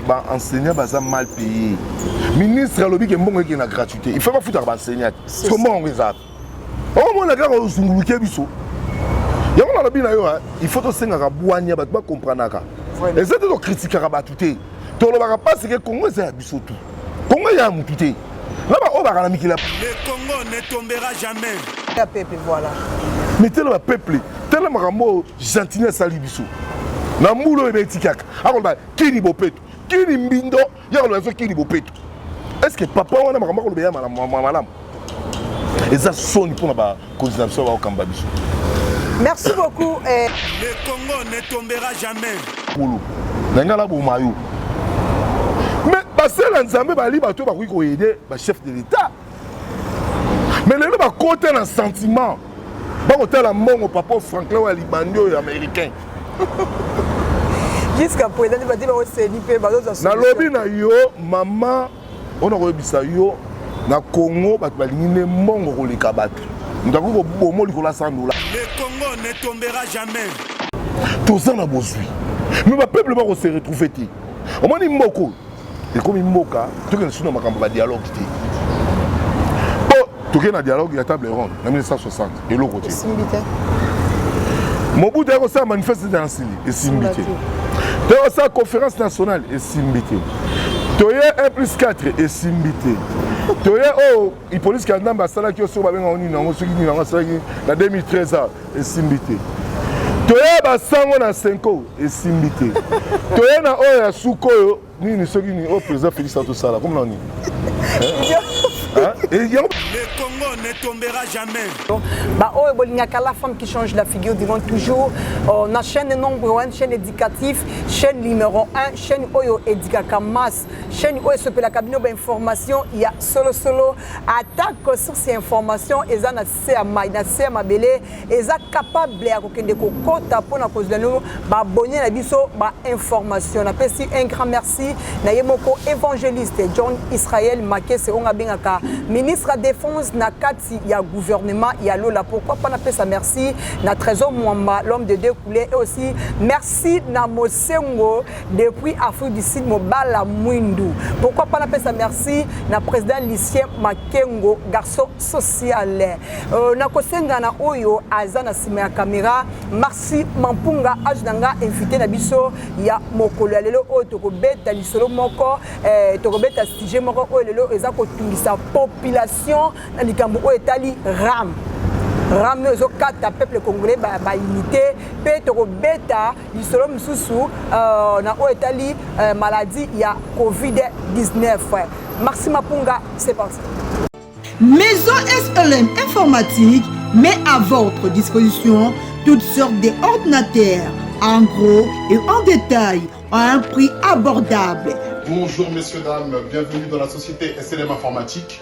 ba enseignant baza mal payé ministre alobi ke mbongo eke na gratuité il faut bafutaka ba enseignant so mbongo yango ezaka omona kaka ozunguluke biso yango nalobi na yo il faut tosengaka bwania bato bakompranaka eza te tokritikaka bato te tolobaka mpasi ke kongo eza ya biso tu kongo eza ya motu te na baoyo baka na mikili le congo ne tombera jamais ya pepe voilà mais telema peuple telema makambo oyo gentini asali biso na mbula oyo ebetikaka akoloba kini bopeto kini mbindo ya koloba biso kini bopeto est ce que papa wana makambo akoloba ya malamu malamu eza soni mpona bakonzi na biso baokamba biso merci beaucoup eh. le congo ne tombera jamais polo na ngai naboma yo mais basela nzambe bali bato bakoki koyede bachef de l'état mais lelo bakota na sentiment bakotala mbongo papa franklin oyo ya libandi oyo américain jusqu'à présent nde bati baoseni mpe bazozwa nalobi na yo mama ona koyebisa yo na congo bato balingi nde mbongo koleka bato moto akoki kobomo likolo ya 100 dola le congo ne tombera jamais toza na bozwi me bapeuple bakose retrouve te omoni mboko ekomi mboka toke lisusu na makambo ba dialogue te po toke na dialogue ya table ronde na 1960 eloko te mobutu ya kosala manifeste na nsili esimbi te to kosala conférence nationale esimbi te toye 1 plus 4 esimbi te toye oyo oh, Hippolyte Kanambe asalaki yo soki babenga ngo nini yango soki nini yango asalaki na 2013 a esimbi te toya basango na senko esimbi te toya na oyo ya suka oyo nini soki nini oyo président félix atosala komi na nini Le Congo ne tombera jamais. Bah, oh, Bolingaka, la femme qui change la figure du monde toujours. On a chaîne nombre 1, chaîne éducative, chaîne numéro 1, chaîne Oyo Edikaka Mass. chaîne oyo esopelaka bino bainformation ya solosolo atako source ya information eza na se ya mai na se ya mabele eza capable ya kokende kokɔta mpona kozwa no babone na biso bainformation napesi un grand merci na ye moko évangéliste john israel makese oyo abengaka ministre ya défense na kati ya gouvernement ya lola pourquoi mpa napesa merci na trésor mwamba l'homme de deux couleur et aussi merci na mosengo depuis Afrique du Sud mobala mwindu pourquoi pas napesa merci na président Lucien Makengo garçon social euh, nakosenga na oyo aza na nsima ya kamera Marci Mampunga azo na nga invité na biso ya mokolo ya lelo oyo tokobeta lisolo moko eh, tokobeta sujet moko oyo lelo eza kotungisa population na likambo oyo etali ram ram oyo ezokata peuple congolais baunité ba mpe tokobeta lisolo mosusu uh, na oyo etali uh, maladie ya covid-19 maxi mapunga c'est parti maison slm informatique met à votre disposition toutes sortes d'ordinateurs en gros et en détail à un prix abordable bonjour messieurs dames bienvenue dans la société slm informatique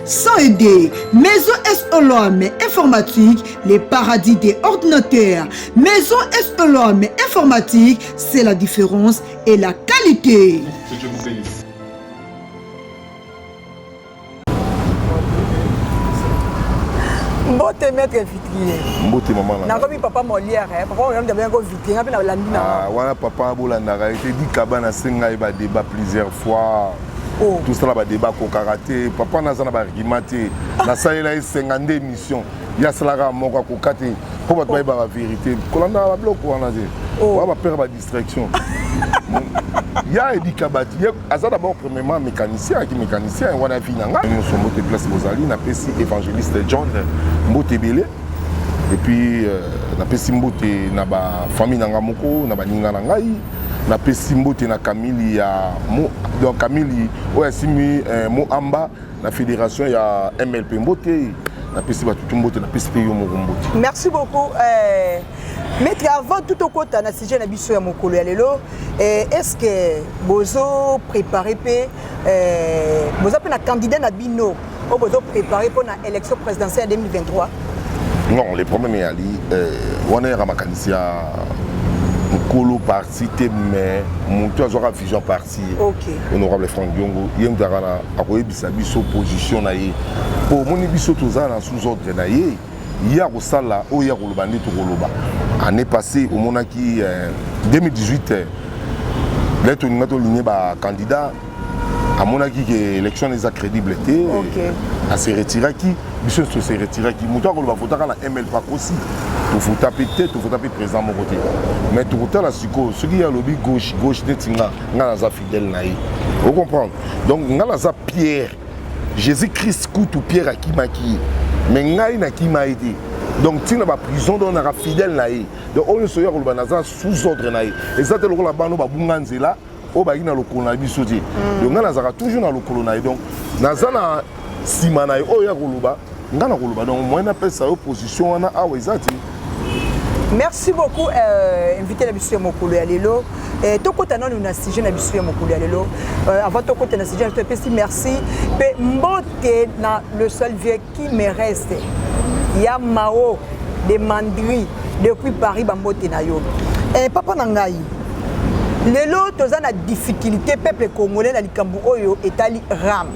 Sans aider, Maison SOLOM Informatique, les paradis des ordinateurs. Maison SOLOM Informatique, c'est la différence et la qualité. Que Dieu vous bénisse. mbote maître vitrier mbote mama na nakomi papa molière eh. papa molière nde abenga ko vitrier nga mpe nalandi na ah, wana papa bolandaka ye te dikaba nasenga ye badeba plusieurs fois oh. tosala badeba akokaka te papa naza na baargument te nasalela ye 52 émission ye asalaka moko akoka te mpo bato bayeba baverité kolandaka babiloko wana te oya oh. bapere badistraction ya edika bato ye aza d'abord premièrement mécanicien ayaki mécanicien yango wana vi na ngai nyonso mbote place bozali napesi évangéliste john mbote ebele epuis euh, napesi mbote na bafamille na ngai moko na baninga na ngai napesi mbote na kamili ya mo, donc kamili oyo asimbi eh, moamba na fédération ya mlp mbote napesi bato tu mbote napesi mpe yo moko mbote merci beaucoup eh, maître avant tout okota na sujet na biso ya mokolo ya lelo eh, est ce que bozo préparer mpe eh, boza mpe na candidat na bino oyo bozo prépare mpo na élection présidentielle ya 2023 non le problème eyali euh, wana yaka makanisi ya mokolo parti te mais motu azwaka vision parti okay. honorable frank diongo ye motu akana akoyebisa biso position na ye mpo omoni biso toza na sous ordre na ye ye akosala oyo ye akoloba nde tokoloba année passée omonaki euh, 2018 nde tolinga tolingi bacandidat amonaki ke élection eza crédible te okay. ase retiraki biso nyonso se retiraki moto akoloba votaka na ml pakosi tofuta mpe te tofuta mpe président moko te mais tokotala sikoyo soki ye alobi gauche gauche neti nga nga naza fidèle na ye ocomprendre donc nga naza pierre jésus christ kutu pierre akimaki ye mais ngai nakima ye te donc ntina baprison donc naka fidèle na ye donc oyo nyonso oyo akoloba naza sous ordre na ye eza te lokola bano babunga nzela oyo bayaki na lokolo na biso te mm. donc ngai nazalaka toujours na lokolo na ye donc naza na nsima na ye oyo ya koloba ngai na koloba donc moyen napesa yo position wana awa eza te merci beaucoup euh, invité na biso ya mokolo ya lelo eh, tokɔta nanu na sujet na biso ya mokolo ya lelo euh, avant tokɔta na sujet na biso epesi merci mpe mbote na le seul vieux Qui me reste ya Mao de Mandri depuis Paris bambote na yo. Eh papa na ngai. Lelo toza na difficulté peuple congolais na likambo oyo etali RAM.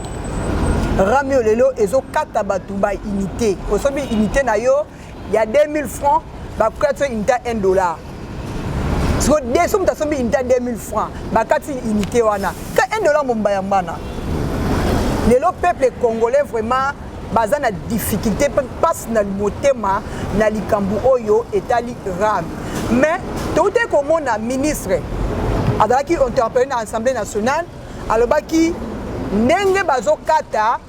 RAM oyo lelo ezokata bato ba unité. Osobi unité na yo ya 2000 francs bakati unité 1 dollar siko de so moto asombi unité 2000 francs bakati unité wana ka 1 dollar momba ya mbana lelo peuple congolais vraiment baza na difficulté mpe mpasi na motema na likambo oyo etali rame mais toutaki komona ministre azalaki interpellé na assemblée nationale alobaki ndenge bazokata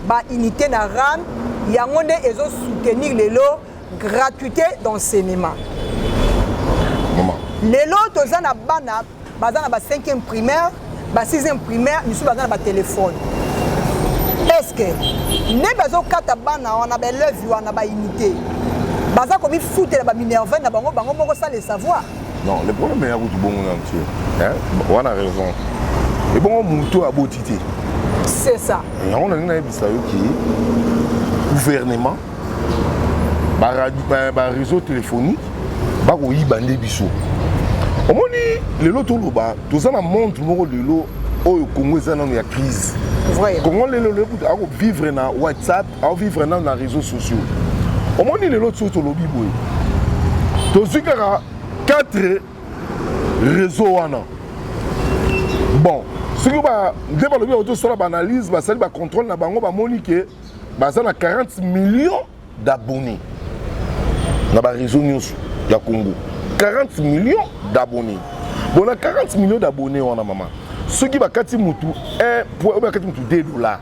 Ba unités na RAM yango nde ezo soutenir lelo gratuité d'enseignement. Maman. Lelo toza na bana baza na ba 5e primaire, ba 6e primaire, misusu baza na ba téléphone. Est-ce que nde bazo kata bana wana ba élèves wana ba unités baza komifutela baminerve na bango bango moko sale savoir Non, le problème ya kutu bongo na ntie. Hein? Wana raison. Et bongo mutu aboti te. C'est ça. Yango na nina yebisa yo ki gouvernement ba radio ba, ba réseau téléphonique ba ko yiba nde biso. Omoni lelo toloba toza na monde moko lelo oyo Congo eza nanu ya crise. Vrai. Congo lelo lelo kutu ako vivre na WhatsApp au vivre nanu na réseaux sociaux omoni lelo ti tolobi boye tozwi kaka 4 réseau wana bon soki nde balobi yango tosala baanalyse basali bacontrôle na bango bamoni ke baza na 40 millions d'abonnés na baréseau nyonso ya congo 40 millions d'abonnés bon na 40 millions d'abonnés wana mama soki bakati motu 1 point oyo bakati motu 2 dollars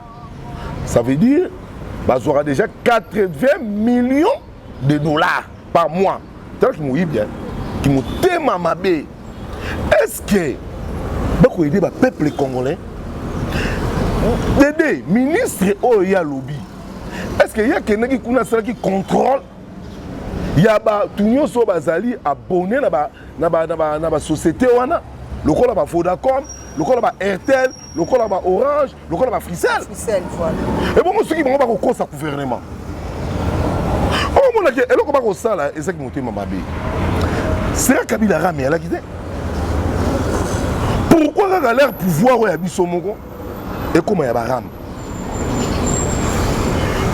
ça veut dire bazwaka déjà 80 millions de dollars par mois tala kimoyibi kimotema mabe est ce que bakoyede bapeuple congolais dede ministre oyo ye alobi est ce que ye akendaki kuna asalaki contrôle ya bato nyonso oyo bazali abonne na basociété wana lokola ba vodacom lokola ba airtel lokola ba orange lokola ba frisel ebongo soki bango bakokosa gouvernement omonaki oh, eloko bakosala ezaki motema mabe sera kabila rame alaki te pourkui kaka leur pouvoir oyo ya biso moko ekóma ya barame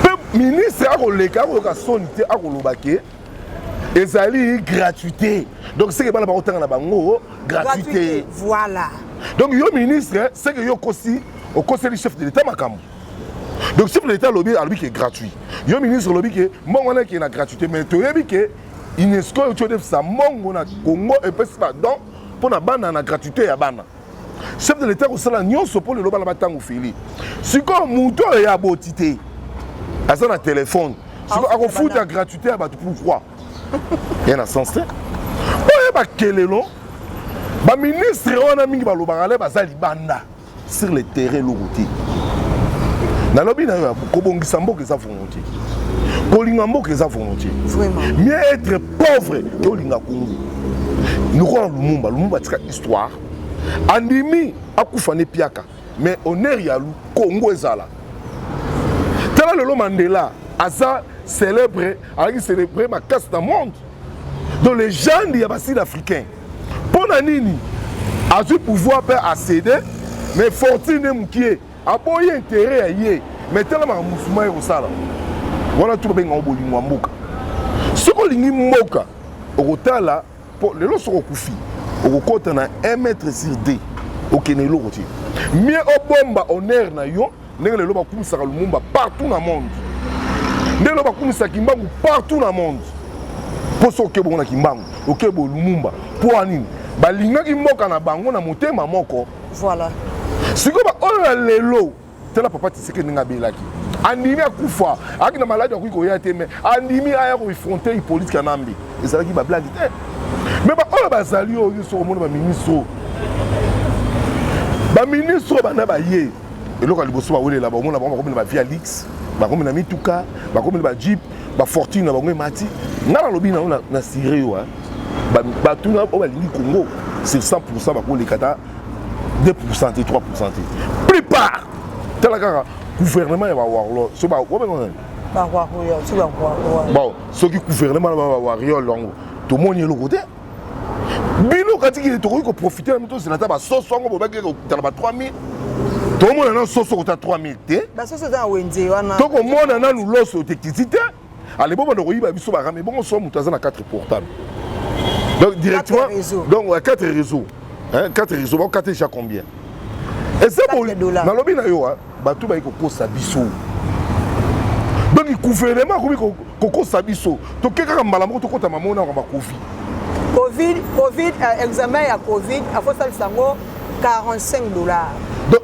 mpe ministre akoleka akoyoka soni te akoloba ke ezali gratuité donc seke bana bakotanga na bango gratuité voilà donc yo ministre seke yo okosi okoseli chef de l'état makambo donc chef de l'état alobi alobi ke gratuit yo ministre olobi ke mbongo wana ekee na gratuité mais toyebi ke unesco euti odefisa mbongo na congo epesi badon mpo na bana na gratuité ya bana chef de l'etat akosala nyonso mpo lelo bana batango feli sikoyo moto oyo ya boti te aza na telefone sikoyo akofuta gratuité ya bato pourquoi ya na sens te oyo bakelelo baministre wana mingi balobaka le baza libanda sur le terrain eloko te nalobi na yo kobongisa mboka eza volonté kolinga mboka eza volonté mieux être pauvre que olinga kongo lokola lumumba lumumba atika histoire andimi akufa ne piaka mais honneur ya lu congo ezala tala lelo mandela aza célèbre azalaki célèbre makasi na monde donc legende ya basud africain mpo na nini azwi pouvoir mpe acede mais fortune mokie aboyi intérêt ya ye mais tala makambo mosusu mai kosala wana tu babengango bolingo ya mboka soki olingi mboka okotala po lelo soki okufi okokota na 1 mètre sur 2 okende eloko te mie obomba honneur na yo ndenge lelo bakumisaka lumumba partout na monde ndenge lelo bakumisaka kimbangu partout na monde mpo soki oke bongo na kimbangu oke bo lumumba mpo anini balingaki mboka na bango na motema moko voilà sikoyo baoyo ya lelo tala papa tshisekedi ndenge abelaki andimi akufa ayaki na maladi akoki koya te me andimi aya koefronte hippolite kanambe ezalaki bablage te me baoyo bazali oyo nyonso komona baministre oyo baministre oyo banda baye eloko ya liboso bawelela baomona bango bakomela bavie ya lix bakomela mituka bakomela bajeep bafortune na bango emati ngai nalobi nango na sire yo batuna oyo balingi kongo sur 100 pourcent bakoleka ta 2 pourcent te 3 pourcent te plupart tala kaka gouvernement ya bawarlo so babenga bon soki gouvernement na bawariol yango tomoni eloko te bino katikili tokoki koprofite na mito ozela ata basoso yango bobaki kokutana ba 3000 tokomona nanu soso kota 3000 te tokomona nanu loso te kiti te ale bo bando koyiba biso ba rame bongo so mutu aza na 4 portable donc directement donc 4 réseaux hein 4 réseaux ba kate déjà combien et c'est bon nalobi na yo hein bato bayi kokosa biso donc gouvernement akomi kokosa biso toke kaka mbala moko tokota mamo na kamba covid covid covid euh, examen ya covid afosalisa yango 45 dollars donc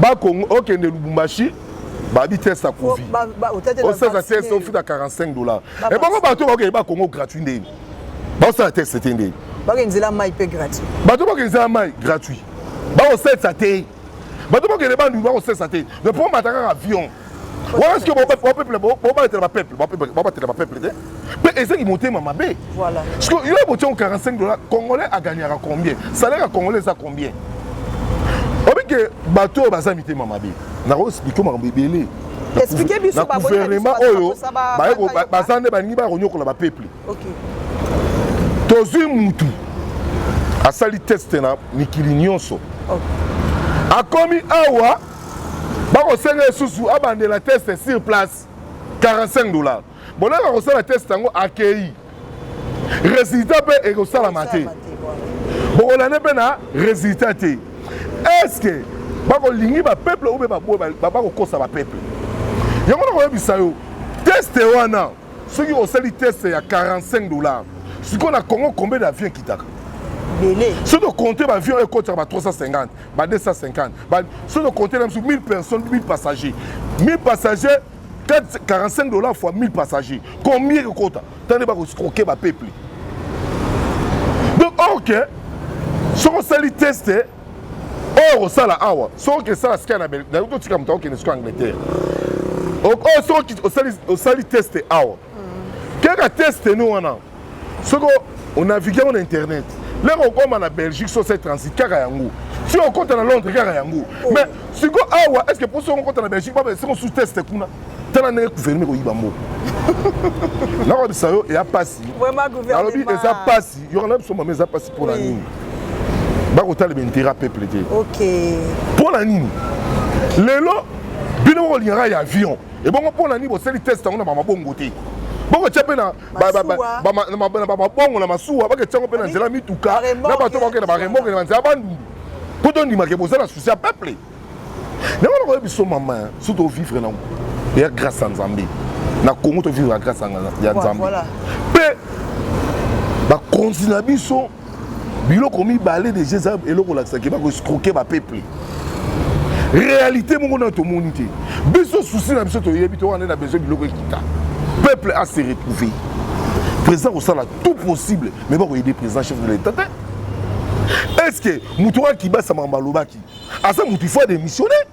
ba Congo okende Lubumbashi babi test ya covid osala test ofuta 45 dollars ebongo bato bakokende ba Congo gratuit ndeni baosala test te ndeni bakende nzela mai mpe gratuit bato bakende nzela mai gratuit bakosalisa te bato bakende bandundu bakosalisa te mais mpo omata kaka avion wana sikoyo bapeuple bobalatela bapeuple babatela bapeuple te mpe ezangi motema mabe sikoyo yo botiango 45 dollar congolais agagnaka combien salaire ya congolais eza combien obike bato oyo baza mitema mabe nakoexplike makambo ebele na guvernema oyo baza nde balingi baya konyokola bapeuple tozwi mutu asali teste na mikili nyonso akomi awa bakosenga ye susu abandela teste sur place 45 dollars bolaka kosala teste yango akei résultat mpe ekosalama te bokolande mpe na résultat te estce bakolingi bapeuple oyo mpe bakokosa bapeuple yango nakoyebisa yo teste wana soki osali teste ya 45 dollars sikoyo na congo combien d'avion ekitaka soki okonte baavion oyo ekotaka ba 350 ba 250 ba soki okote na biso 1000 personnes 1000 passagers 1000 passagers 4, 45 dollars fois 1000 passagers combien ekokota tande bakoscroke bapeuple donc or ke soki osali teste oyo okosala awa soki oke esala sika na belgique totika moto akokende siko angleterre oyo soki osali teste awa kaka teste no wana soki onavigue yango na internet lere okoma na belgique so se transit kaka yango si okota na londres kaka yango oh. mais siko awa est ce que mpo soki okota na belgique baba esiko sous teste kuna tala ndenge gouvernement ekoyiba mboka nakolobisa yo eya mpasi nalobi eza mpasi yokana biso mama eza mpasi mpo na nini bakotalema intérêt peuple te mpo na nini lelo bino bokolingaka ya avion ebongo mpo na nini bosali test yango na bamabongo te bokotia mpe na bamabongo na masuwa baketisa yango mpe na nzela mituka na bato bakokenda baremoke na banzela bandundu mpo tondimake boza na susi ya peuple yango nakoye biso mama surtout ovivre nango ya grâce ya nzambe na congo tovivre ya grâce ya nzambe mpe bakonzi na biso biloko mibale deja eza eloko olakisaki bakoescroke bapeuple réalité moko nayo tomoni te biso susi na biso toyebi to wana na besoin biloko ekita peuple a se retrouver président kosala tout possible mais bakoyede président chef de l'état te est ce que moto oyo akibasa makambo alobaki aza moto ifo adémissionne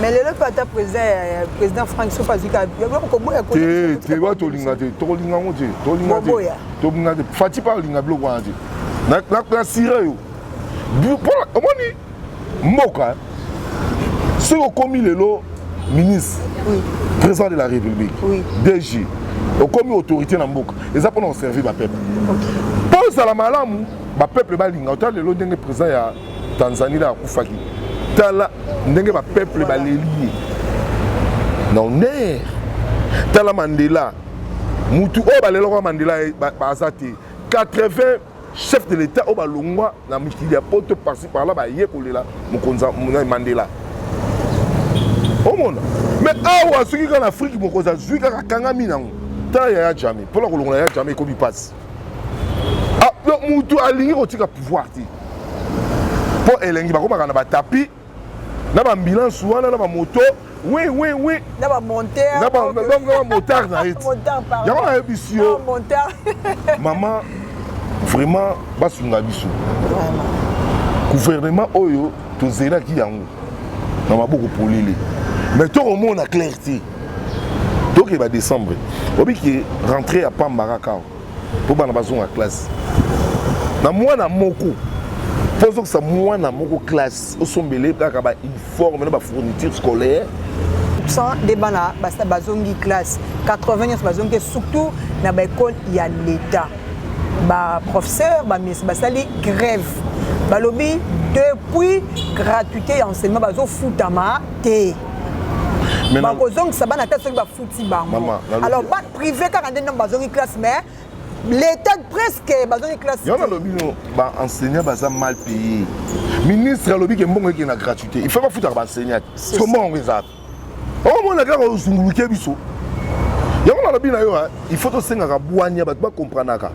mais lelo mpe ata président frank soki azwi kabilokoboyawa tolinga te tokolinga yango te tolinga te fati mpe alinga biloko wana te nasira yo omoni mboka soki okomi lelo ministre président de la république dg okomi autorité na mboka eza mpona koservir bapeple mpo ozala malamu ba peuple balinga ota lelo ndenge président ya tanzanie na akufaki tala ndenge ba peuple baleli ye na honneur tala mandela mutu oyo balelaka mandela baza te 80 chef de l'état oyo balongwa na mikili ya poto parci parla baye kolela mokonzi mandela omona me awa soki kaka na afrike mokonzi azwi kaka akangami nango tala yaya jame mpona kolongola yaya jame ekomi mpasi ah, donc mutu alingi kotika pouvoir te mpo elengi bakomaka na batapi na bambilance wana na bamoto oui oui oui na ba monteur na ba donc na ba motard na ye motard pardon yango na yebisi yo motard maman vraiment basunga biso vraiment gouvernement oyo tozelaki yango na maboko polele mais tokomona claire te tokeba décembre oyebi ke rentre ya pamba kaka awa mpo bana bazonga classe na mwana moko mpo ozokisa mwana moko classe osombele kaka bauniforme na bafourniture scolaire 100 nde bana bazongi classe 80 nyonso bazongi te surtout na baekole ya leta ba professeur ba miss basali grève balobi depuis gratuité ya enseignement bazofutama te bakozongisa bana ata soki bafuti bango alors ba privé kaka nde ntango bazongi classe mais l'état presque bazongi classe yo nalobi no baenseignant baza mal payé ministre alobi ke mbongo ekende na gratuité il faut bafutaka baenseignant te siko mbongo yango ezalaka omona kaka ozunguluke biso yango nalobi na yo il faut tosengaka bwania bato bakompranaka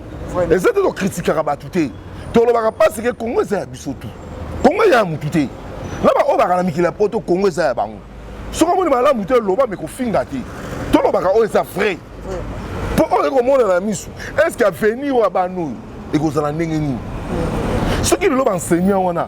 eza te tokritikaka bato te tolobaka mpasi ke kongo eza ya biso tu kongo eza ya motu te na baoyo bakala mikili ya poto kongo eza ya bango soki omoni malamu te loba me kofinga te tolobaka oyo eza vrai mpo oyo ekomona na miso estce avenir oyo abana oyo ekozala ndenge nini soki lelo baenseignant wana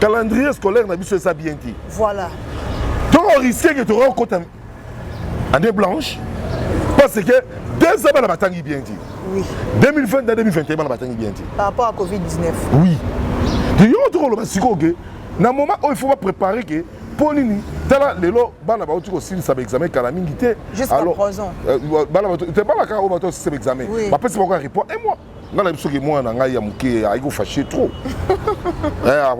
calendrier scolaire na biso eza bien te voilà donc on risque que tokoki kokota année blanche parce que deux ans bana batangi bien te oui. 2020 na 2021 bana batangi bien te par rapport à covid 19 oui de yo tokoloba sikoyo ke na moment oyo il faut bapréparer ke mpo nini tala lelo bana bauti kosilisa baexamen kala mingi te euh, bana kaka oyo bato osisa baexamen bapesi bango ya report un mois nga nayebi soki mwana na ngai ya moke ayaki kofashe trop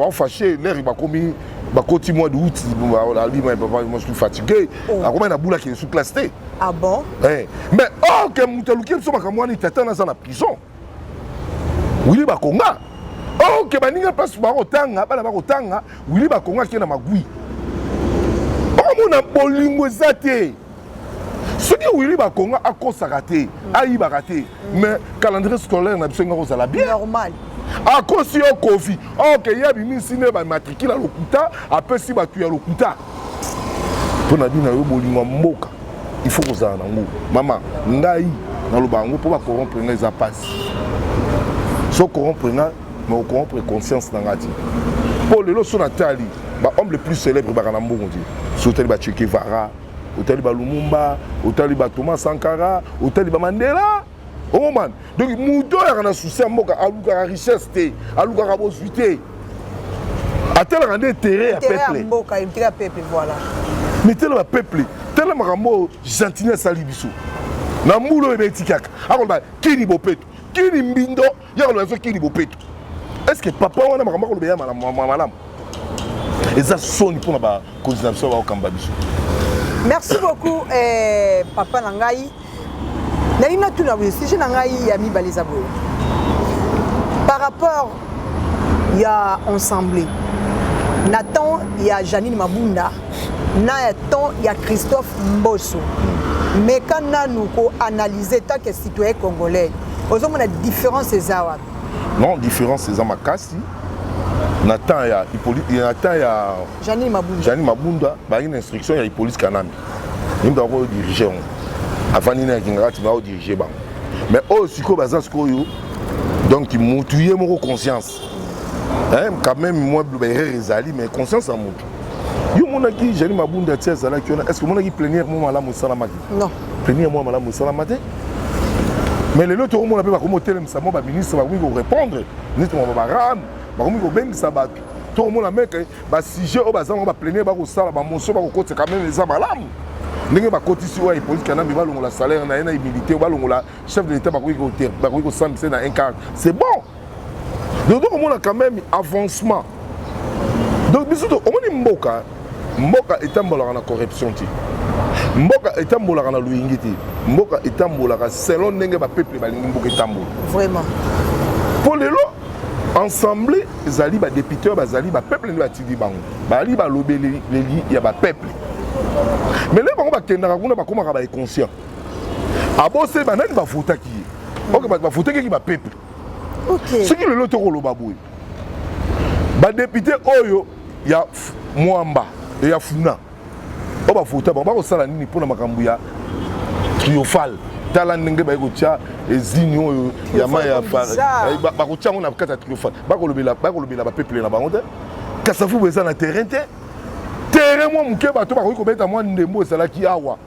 afashe lere bakomi bakoti mois de août alima ya papa mosusu fatigue akomaki na bula kende su classe te ah bon eh, mais or oh, ke moto aluki biso makambo wana tata naza na prison wili bakonga or oh, ke baninga place bakotanga bana bakotanga wili bakonga ake na magui okomona bolingo eza te soki wili bakonga akosaka te mm. ayibaka te mm. mais calendrier scolaire na biso enga kozala bien normal akosi yo kofi oke ye abimisi nde bamatrikile ya lokuta apesi bato ya lokuta mpo na bino yo bolingo ya mboka il faut kozala na yango mama ngai naloba yango mpo bakorompre ngai eza mpasi so korompre ngai mais okompre conscience na ngai ti mpo lelo so natali bahomme le plus célèbre baka na mbongo ti so otali bachekevara otali balumumba otali batoma sankara otali bamandela omomani donc moto oyo ayaka na susi ya mboka alukaka richesse te alukaka bozwi te atalaka nde intere ya peuple mais tala bapeuple tala makambo oyo gentini asali biso na mbula oyo ebeti kaka akoloba kini bopeto kini mbindo ya koloba ezo kili bopeto est ce que papa wana makambo akoloba ya malamu eza soni mpo na bakonzi na biso baokamba biso merci beaucoup eh, papa na ngai nalingi natuna boye sujet na ngai ya mibale eza boye par rapport ya ensemble na temps ya janine mabunda na ya temps ya christophe mboso meka nanu koanalyse take citoyen congolais ozomona différence eza wapi non différence eza makasi na temps ya na temps ya janine mabunda, janine mabunda bayaki na instruction ya hippolyte kanambe yimbe akoyo dirige yango avandi na yakingaka ntina aodirige bango mais oyo sikoyo baza sikoyo donc mutu ye moko conscience eh, quand même mwa biloba erreur ezali mais conscience ya motu yo omonaki jani mabunda ti azalaki wana est ce que omonaki plenière mwa malamu esalamaki non plenière mwa malamu esalama te mais lelo tokomona mpe bakomi kotelemisa mwa baministre bakomi korépondre ministre mwa babarame bakomi kobengisa bato tokomona meke basujet oyo baza nango baplenière bakosala bamoso bakokotisa quand même eza malamu ndenge bakotisi oyo hippolyte kanambe balongola salaire na ye na humilité balongola chef de l'état bakoki kosambisa na un carte c'est bon donc tokomona quand même avancement donc biso omoni mboka mboka etambolaka na corruption te mboka etambolaka na loyingi te mboka etambolaka selon ndenge bapeuple balingi mboka etambola vraiment mpo lelo ensemble ezali badepute bazali bapeuple nde batindi bango bazali balobeleli ya bapeuple mais lelo bango bakendaka kuna bakomaka baeconscient aboseli banani bavotaki ye oke bato bavotaki ki bapeuple okay. soki lelo tokoloba boye badepute oyo ya mwamba ya funa oyo bavota bango bakosala nini mpo na makambo ya triofale tala ndenge baye kotya ezini oyo ya mai ya eh, bakotya yango na kati ya triofale bakolobela bapeuple na bango te kasafubu eza na terrain te terrain mwa moke bato bakoki kobeta mwa ndembo ezalaki awa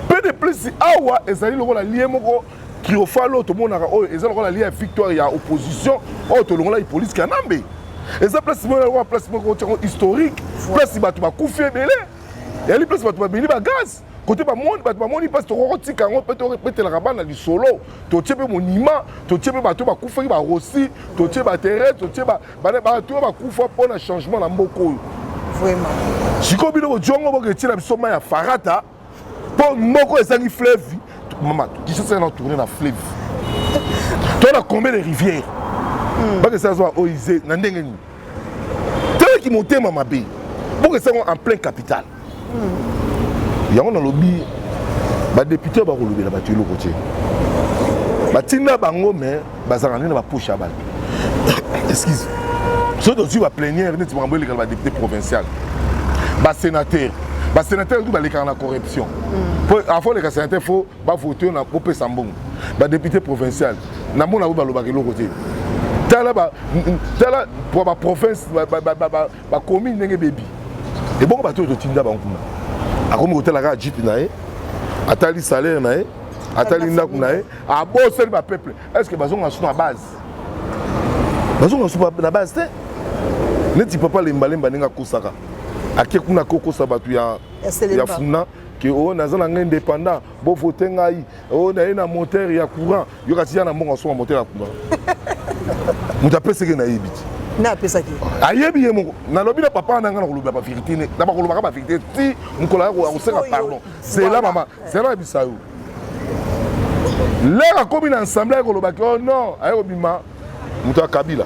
mpe de plus awa ezali lokola lie moko triomphal oyo tomonaka oyo eza lokola lia victoire ya opposition oyo tolongolaki polise kanambe eza place moko lokola place moko otiango historique place bato bakufi ebele yali place bato babeli bagaz kote bamoni bato bamoni mpasi tokoki kotika yango mpe tobetelaka bana lisolo totie mpe monima totie mpe bato bakufaki barosi totie baterese totie bato oyo bakufa mpo na changement na mboka oyo sikoyo bino bojongo boketyela biso mai ya farata mpo moko ezangi fleuve mama kinshasa na tourne na fleuve to na combien de rivière hmm. bakesa azwa oise na ndenge nini toyaki motema mabe bokesa yango en plein capital hmm. yango nalobi badepute bakolobela bato eloko te batinda bango mais bazalaka nde na bapoche ya bato excuse soki tozwi baplenière neti makambo elekala badepute provincial basénateur basénateur kutu balekaka na corruption mm. po afo oleka sénateur fo bavote yo na bopesa mbongo badepute provincial na mona yango balobaka eloko te tala tala po baprovince bacommune ndenge bebi ebongo bato oyo totinda bango kuna akomi kotala kaka jipe na ye atali salaire na ye atali ndako na ye abosani ba peuple est ce que bazonga su na base bazonga su na base te neti papa lembalemba ndenge akosaka ake kuna kokosa bato ya, ya funa ke oyo oh, naza na ngai indépendant bovote ngai oyo oh, naye na moteur ya courant yo kasi ya na mbongo asonga moteur ya courant moto apeseke nayebi ti na apesaki ayebi ye moko nalobi na papa na ngai na kolobela baverité na bakolobaka baverité ti mokolo akosenga pardon zela mama zela na bisayo lere akomi na ensemble aye kolobaki o oh non aye kobima moto ya kabila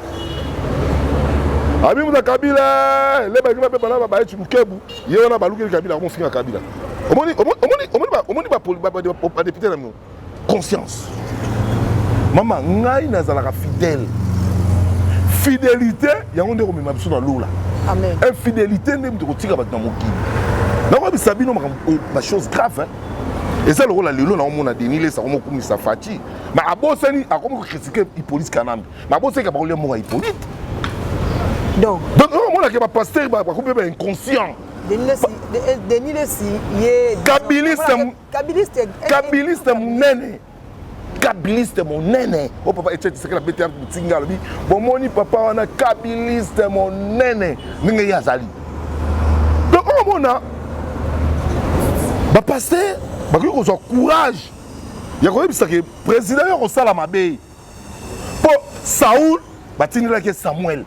abi moto ya kabila eh, lebaki bape bana babaye cilukebu ye wana balukeli kabila akomofinga kabila omoni badepute na bino conscience mama ngai nazalaka fidèle fidelité yango nde ekomema biso na lola infidélité nde moto ekotika bato na mokili nakoyebisa bino makambo euh, bachose grave eza lokola lelo naomona denis lesa akomokumisa faci ma abosani akomi kokritike hippolite kanambe ma abosani ka bakolia moko ya hippolite donc omonake bapaster bakomi mpe bainconscient denis lesi ye kabiliste kabiliste kabiliste monene kabiliste monene o oh, papa etieti sekela bete ya motinga alobi bomoni papa wana kabiliste monene ndenge ye azali donc omona bapaster bakoki kozwa courage ya koyebisa ke président yo akosala mabe mpo saul batindelaki ye samuel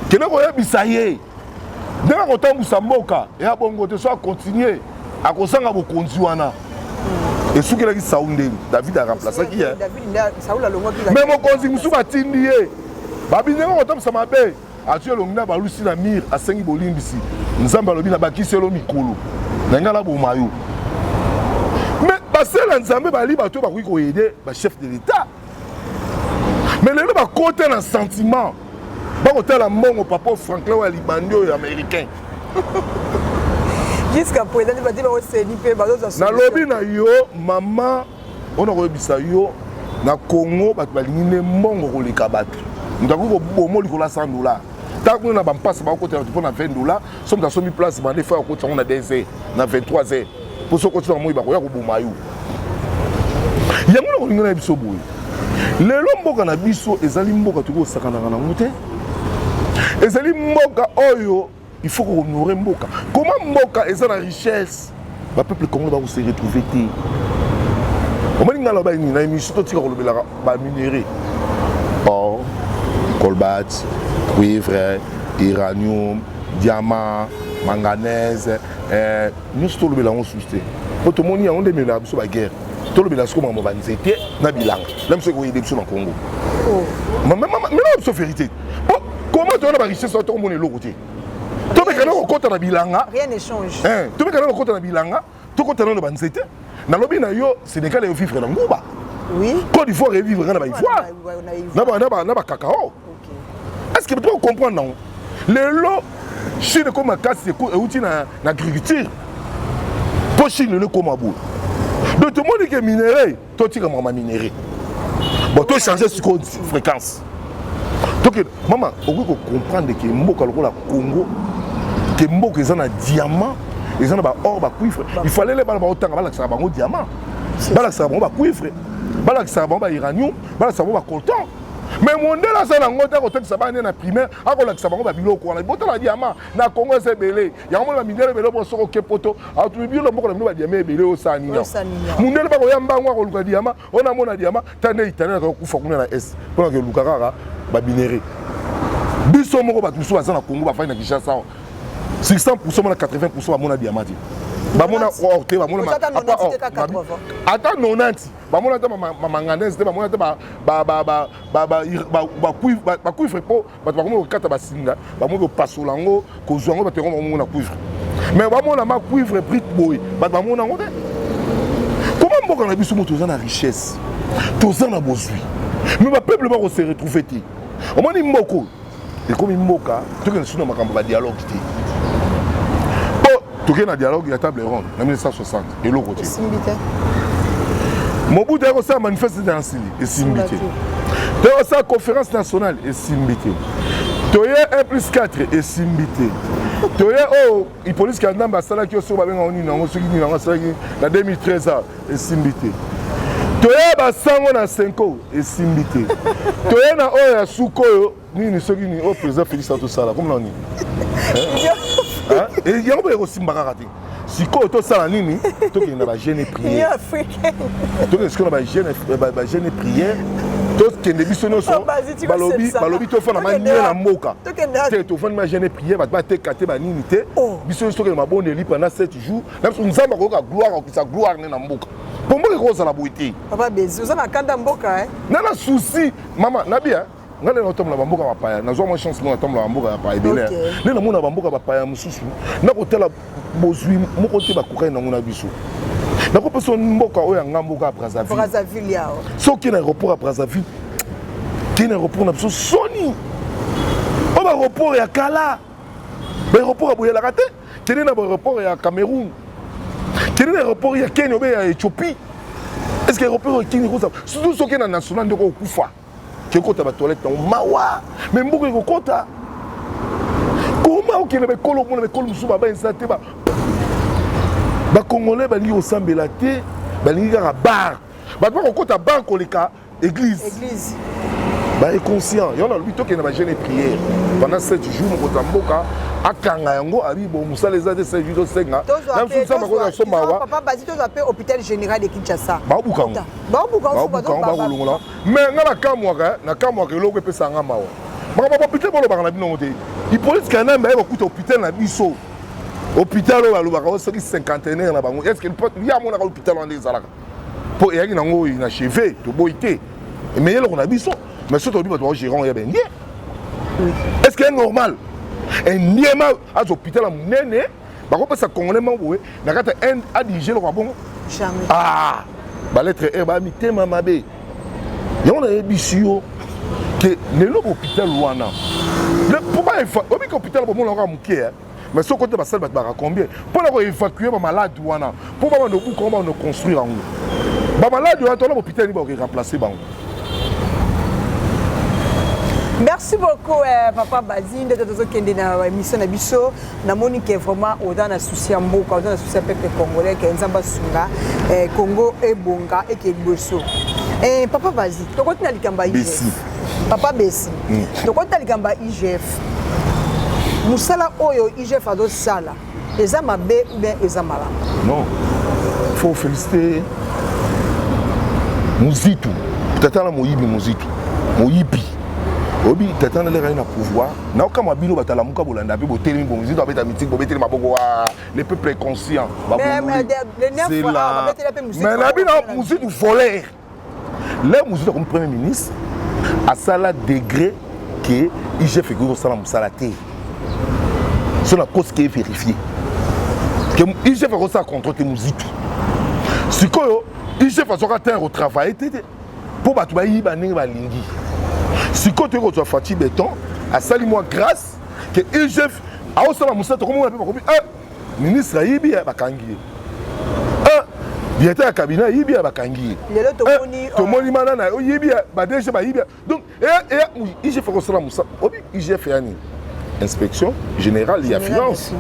kende koyebisa ye ndenge akotambusa mboka ya bongo te so akontinue akozanga bokonzi wana esukelaki saul nde david aremplasaki ye me mokonzi mosusu batindi ye babi ndenge akotambusa mabe Atie elongi na balusi na mire, asengi bolimbisi. Nzambe alobi na bakisi yo mikolo na ngai naboma yo. Mais basali ya Nzambe bali bato bakoki koyede ba chef de l'Etat. Mais lelo bakota na sentiment bakotala mbongo papa Franklin oyo ya libandi oyo ya américain nalobi na yo mama mpona koyebisa yo na congo bato balingi nde mbongo koleka bato moto akoki kobomo likolo ya 100 dollar ntango kuna na bampasi bakokota bato mpo na 20 dollar so moto asombi place bande fo akoti yango na 2 heures na 23 heures mpo soki okoti na moi bakoya koboma yo yango na kolingi na biso boye lelo mboka na biso ezali mboka tokoki kosakanaka nango te ezali mboka oyo il faut kohonore mboka koma mboka eza na richesse bapeuple congolais bakose retrouve te omoni ngai aloba nini na émission totika kolobelaka baminerai or colbat cuivre iranium diamant manganese eh, nyonso tolobela yango susu te mpo tomoni yango nde ememela biso baguerre tolobela siko makambo banzete na bilanga na biso ekoyede biso na congo oh. mema biso verité po koma toyona ba richesse wana tokomona eloko te tomekana kokɔta na bilanga eh, tomekana kokɔta na bilanga tokɔta nano banzete nalobi na yo sénégal eyo vivre na nguba côte d'ivoire evivre nga na baivoire na bacacao est ce que to comprendre nango lelo chine ekoma makasi euti na agriculture mpo chine lelo ekoma boye donc tomoni ke minerai totika makambo ya minerie bon tochange sikoyo fréquence toke mama okoki kocomprendre ke mboka lokola congo ke mboka eza na diamant eza na baor bacuivre ifalele bana baotanga balakisaka bango diamant balakisaka bango bacuivre balakisaka bango bairanium balakisaka bango bacoltan mais mondele aza na yango te akotatisa bana nde na primaire akolakisa bango babiloko wana botala diamant na congo eza ebele yango mona mindele ebele mpo soki oke poto atumi bino na mboka na bino badiama ebele osala nini mundele bakoya mbango akoluka diama oyo namona diama ta nde italien akoki kokufa kuna na est mpo nake oluka kaka babinere biso moko bato mosusu baza na congo bafandi na kinshasa 600 pourcent mona 80 pourcent bamona diama te bamona or te bamona ata 90 bamona ata mamanganaise te bamona ata bacuivre mpo bato bakomi kokata basinga bamoki kopasola yango kozwa yango bato yango bamona cuivre mais bamona ma cuivre brite boye bato bamona yango te koma mboka na biso moto oza na richesse toza na bozwi mais bapeuple bakose retrouve te omoni mboko ekomi mboka tokende suna makambo ya badialogue te toke na dialogue ya table ronde na 1960 eloko te esimbi te mobutu ayaki kosala manifeste na nsili esimbi te te kosala conférence nationale esimbi te toye 1 plus 4 esimbi te toye oyo oh, hippolyte kanambe asalaki yo soki babenga ngo nini yango soki nini yango asalaki na 2013 a esimbi te toye basango na senko esimbi te toye na oyo ya suka oyo nini soki nini oyo oh, président félix atosala komona nini eh, yango boye kosimba kaka te sikoyo tosala nini tokende na bagene prière tokende sikoyo na bagene prière tokende biso nyonso oh, balobi tofanda manie na mboka te tofandi magene prière bato bateka te banini te oh. biso nyonso tokende mabondeli pendant 7 jours na biso nzambe akoyoka gloire akokisa gloire ne na mboka mpo mboka ekozala boye te nana susi mama nabi ngai lelo natambola bamboka bapaya nazwa mwa chance moko natambola bamboka ya paya ebele nde namona bamboka bapaya mosusu nakotala bozwi moko te bakokani nango na biso nakopesa mboka oyo ya ngai mboka ya brazzaville soki na aéroport ya brazzaville kei na aéroport na biso soni oyo baaéroport ya kala baaéroport ya boyelaka te kende na baaéroport ya cameroun kende na aéroport ya kenya obe ya ethiopie est ce que aéroport ya kenya ekozala surtout soki na national ndeko okufa tokota ba toilette na yango mawa me mboka ekokota koma okende baekolo omona baekolo mosusu baba eza te bakongolais balingi kosambela te balingi kaka bar bato bakokota bar koleka église ba inconscient yango nalobi tokende ba jeune prière pendant 7 jours mokonzi ya mboka akanga yango abi bo mosala eza te 7 jours tosenga na mosusu nzambe akoki asomba wa baobuka yango bakolongola Mais nga na kamwaka, na kamwaka eloko epesa nga mawa. Makambo ya hôpital bolobaka na bino yango te. Hippolyte Kanambe aye kokuta hôpital na biso. Hôpital oyo balobaka oyo soki cinquantenaire na bango, est-ce que ye amonaka hôpital wana nde ezalaka? Mpo eyaki na ngoi na cheve, toboyi te. Mais eloko na biso, mais soki tolobi bato bao gérant ya bendie, est-ce que normal? Endiema azo hôpital ya monene, bakopesa congolais moko boye na kati ya inde adirige lokola bongo ah, baletre r baya mitema mabe yango nayebisi yo ke lelo bopital wana obika hopital bomona kaka moke eh. mais soki okote basali bato baka combien mpo na koevacue bamalade wana mpo babanda obuka yango babanda construire yango bamalade wana tona bopital nini bakoremplace bango merci beaucoup eh, papa bazi ndete tozokende na émission na biso namoni ke vraiment oza na souci ya mboka oza na souci ya peuple congolais ke nzambe asunga eh, congo ebonga eke liboso eh, papa vazi tokoti na likambo ya igf papa besi mm. tokoti na likambo ya igf mosala oyo igf azosala eza mabe ou bien eza malamu non faut féliciter muzitu tata na moyibi muzitu moyibi oyebi tata na leka ye na pouvoir naokamwa bino bato alamuka bolanda mpe botelemi bongo zito abeta mitiki bobeteli maboko wa le peuple conscient babulumai na bino muzitu voler le muzitu akomi premier ministre asala degré ke igf ekoki kosala mosala te so nakosi ke verifie ke igf akosala contrôle te muzitu sikoyo igf azwaka terre otravaille te te mpo bato bayiba ndenge balingi sikoyo toyei kozwa faci beton asali mwa grâce ke igf aosala mosala tokomona mpe bakomi eh, ministre ayibi eh, bakangi ye eh, directeur ya cabinet ayibi ya bakangi ye tomoni mana na oyibi ya badege bayibi donc igf akosala mosala obi igf ya nini inspection générale ya finance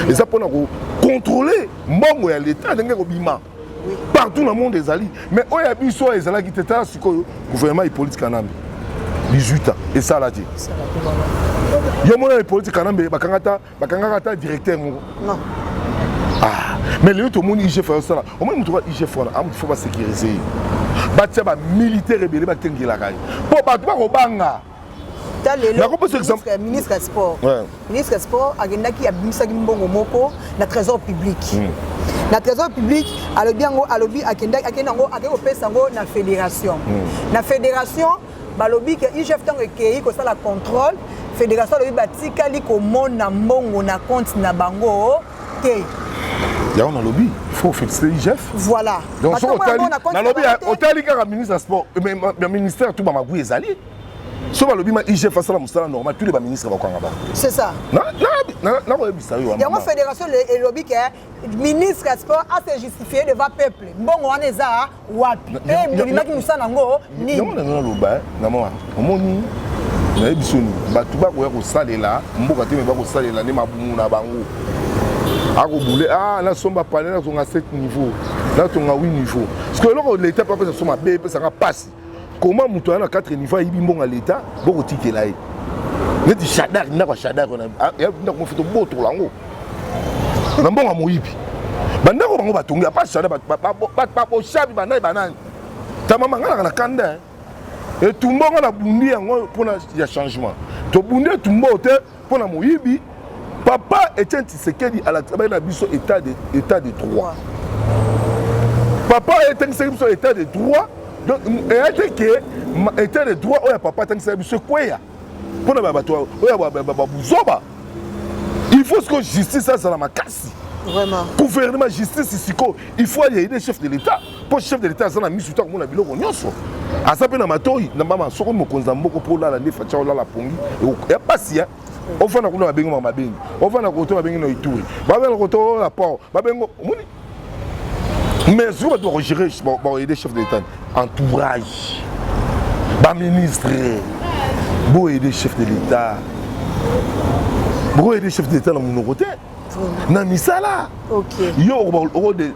eza mpona kocontrôle mbongo ya leta ndenge kobima partout na monde ezali mais oyo ya biso oyo ezalaki te tala sikoyo gouvernement hippolyte kanambe 18 ans esala te yo mona hippolyte kanambe bakangaka ata directeur moko ah, mais lelo tomoni igf ayosala omoni moto ka igf wana amutu ah, fo basécurise ye batia bamilitaire ebele bakengelaka ye mpo bato bakobanga ta lelo ministre ya sport ministre ya sport akendaki abimisaki mbongo moko na trésor public hmm. na trésor public alobi yango alobi akendaki akende yango akei kopesa yango na fédération hmm. na fédération balobi ke igf ntango ekei kosala contrôle fédération alobi batikali komona mbongo na compte na bango te yango nalobi faut féliciter igf voilà donc soki otali nalobi otali kaka ministre ya sport ya ministère tout bamagui ezali so balobi ma igf asala mosala normal tous les baministre bakokanga bango c'est ça nakoyebisa yo yango fédération elobi ke ministre ya sport ase justifie devant peuple mbongo wana eza wapi eh, bolingaki mosala yango nini yango nazo naloba eh, na mawa omoni nayebi soni bato bakoya kosalela mboka te me bakosalela nde mabumu na bango akobule ah nasomba pane nazonga 7 niveau nazonga 8 niveau parceke eloko leta mpe apesa so mabe epesaka mpasi koma moto aya na 4 niveau ayibi mbongo ya leta bokotikela ye neti shadar ndako ya shadar ah, ndako mofi tobotola yango na mbongo ya moyibi bandako bango batongi apa shadar babosabi banani banani tamama ngai naka na kanda eh. etumba ngo na bundi yango mpona ya changement tobundi etumba oyo te mpo na moyibi papa etienne tshisekedi alakisa bai na biso état de, état de droit papa etangisaki biso état de droit donc eya te ke état de droit oyo ya papa atangisaki biso ekweya mpo na bato oyo babuzoba il faut siko justice azala makasi gouvernement justice siko il faut ayeide chef de l'état mpo chef de l'etat aza na miso te akomona biloko nyonso aza mpe na matoi na mama soko mokonzi ya mboko mpo olala nde fatia olala pongi ya mpasi ya ofanda kuna babengi mama babengi ofanda koto babengi na ituri babenda koto na port babengo omoni mais soki bato bakogere bakoyede chef de l'etat entourage baministre boyede chef de l'etat bokoyede chef de l'etat na monoko te na misala yo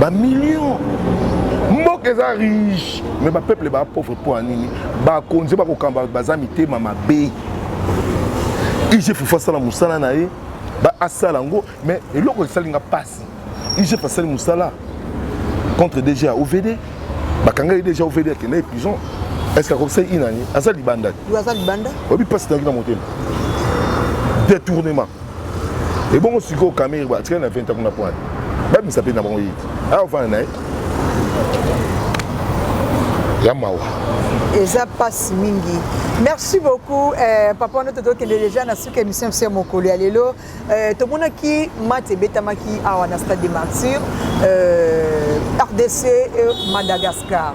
ba millions mboka eza riche me bapeuple baa pauvre mpo ya nini bakonzi bakokamba baza mitema mabe igf asala mosala na ye asala yango me eloko esali nga mpasi igf asali mosala contre dg ya ovd bakanga ye deja ovd akenda ye prison est ce que akokisa inani aza libanda te oyebi mpasi nayaki na motema détournement ebongo sikoyo kamere atikali na 20 kuna pwana babimisa mpe na bango yiti awa ofanda na ye ya mawa eza mpasi mingi merci beaucoup eh, papa wana totokende déjà na suka émission biso ya mokolo ya lelo eh, tomonaki mati ebetamaki awa na stade de martyr eh, rdc et madagascar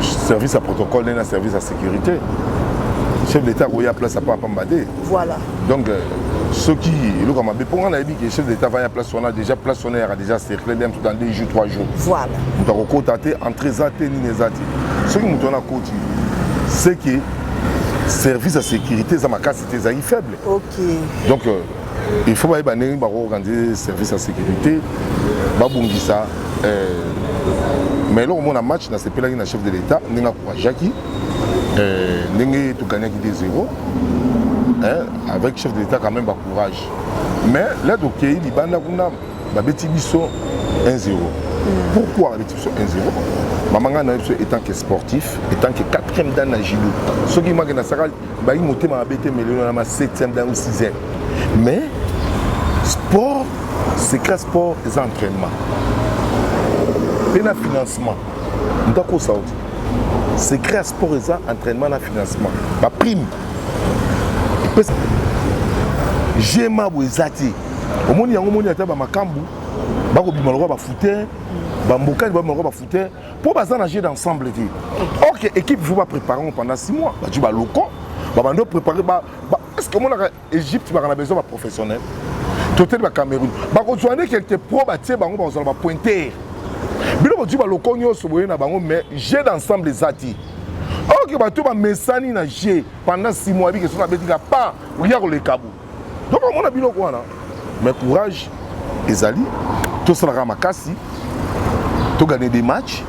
service ya protocole nde na service ya sécurité chef d'état akoya place apa apamba te voilà donc euh, soki eloko mabe mpo ngai nayebi ke chef d'état vaya place wana déjà place wana eyaka déjà cercle bien tout dans deux jours trois jours voilà moto akokota te entre eza te nini eza te soki moto wana akoti c'est que service ya sécurité eza makasi te ezalaki faible okay. donc euh, il faut bayeba ndenge bakoorganize service ya sécurité babongisa euh, mais eloko mona match nasepelaki na chef de l'état ndenge akourajaki euh, ndenge togagnaki 2 0 avec chef de l'état quand même bacourage mais là tokei libanda kuna babeti biso 1 0 pourquoi babeti biso 1 0 mama ngai nayebi biso etant que sportif etant que quatrième dan na judo soki maki nasaka bayi motema mabe te melelo na ma 7e ntango 6e mais sport secret sport eza entraînement mpe na financement moto akosa oti secret ya sport eza entraînement na financement baprime epesa gma boye eza te omoni yango omoni ata bamakambu bakobima lokola bafute bambokani babima lokola bafute mpo baza na jeu d'ensemble te or que équipe il faut baprépare yango pendant 6 mois badi baloko babandi oprépare ba, ba, est ce que omonaka égypte baka na besoin baprofessionnel toteli bacameroun bakozwa nde quelque pro batie bango bakozala bapointer bino bodi baloko nyonso boye na bango mais jeu d'ensemble eza te or que bato bamesani na jeu pendant 6 mois abike soki abetika pa oya koleka bo donc omona biloko wana mais courage ezali tosalaka makasi togane des matchs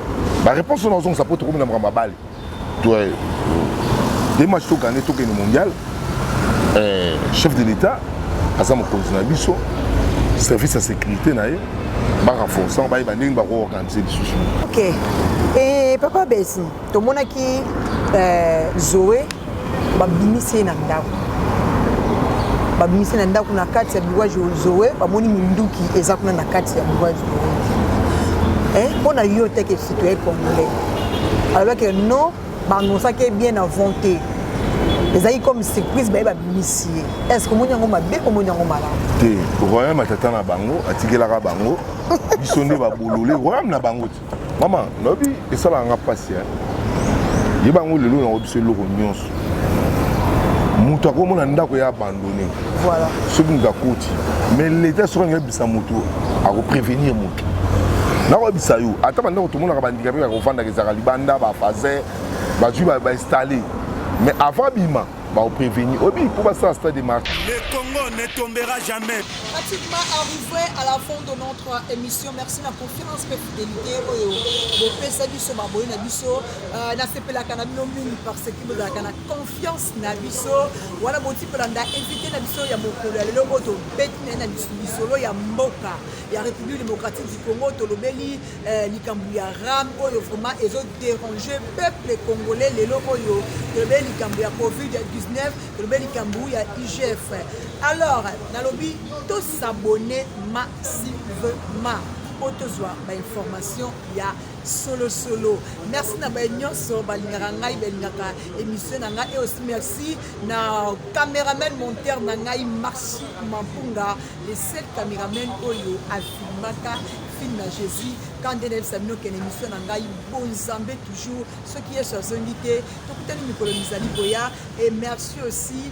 baréponse wana ozongisa mpo tokomi na makambo abale des matchs togane tokende mondial eh, chef de l'état aza mokonzi na biso service ya sécurité na ye barenforce yango bayeba ndenge bakoorganize lisusu ok e papa besi tomonaki eh, zoe babimisi ye na ndako babimisi na ndako na kati ya biro zoe bamoni minduki eza kuna na kati ya biro zoe mpo eh, na yo te ke citoyen congolais alobaki non baannonsaki ye bien avant te ezalaki comme surprise baye babimisi ye est ce que omoni yango mabe omoni yango malamu te royaume ya tata na bango atikelaka bango biso nde babolole royaume na bango te mama nayebi esalaka nga mpasi eh. yeba yango lelo yango biso eloko nyonso moto akomona ndako ya abandone voilà. soki moto akoti mais leta soki alingi abisa moto akoprevenir moto nakoyebisa yo ata bandako tomonaka bandikape ya kofandaka ezalaka libanda bafase bazwi bainstalle mais avant bima baoprevenir oyebi mpo basala stade de marche le congo ne tombera jamais pratiquement arrivé à la fin de notre émission merci na confiance mpe fidelité oyo bopesa biso baboli na biso euh, nasepelaka na bino mingi parce que bozalaka na confiance na biso wana boti kolanda invité na biso ya mokolo ya lelo oyo tobeti naye na lisolo ya mboka ya république démocratique du congo tolobeli euh, likambo ya ram oyo vraiment ezo dérange peuple congolais lelo oyo tolobeli likambo ya covid 19 tolobeli likambo ya igf alors nalobi tosabone ma Sylvema mpo tozwa bainformation ya solosolo merci na baye nyonso balingaka ngai balingaka émission na ngai eosi merci na cameraman monteur na ngai marchi mampunga le seul cameraman oyo afilmaka film na jésus quand nde nayebisa bino kende émission na ngai bonzambe toujours soki yesu azongi te tokutani mikolo mizali koya et merci aussi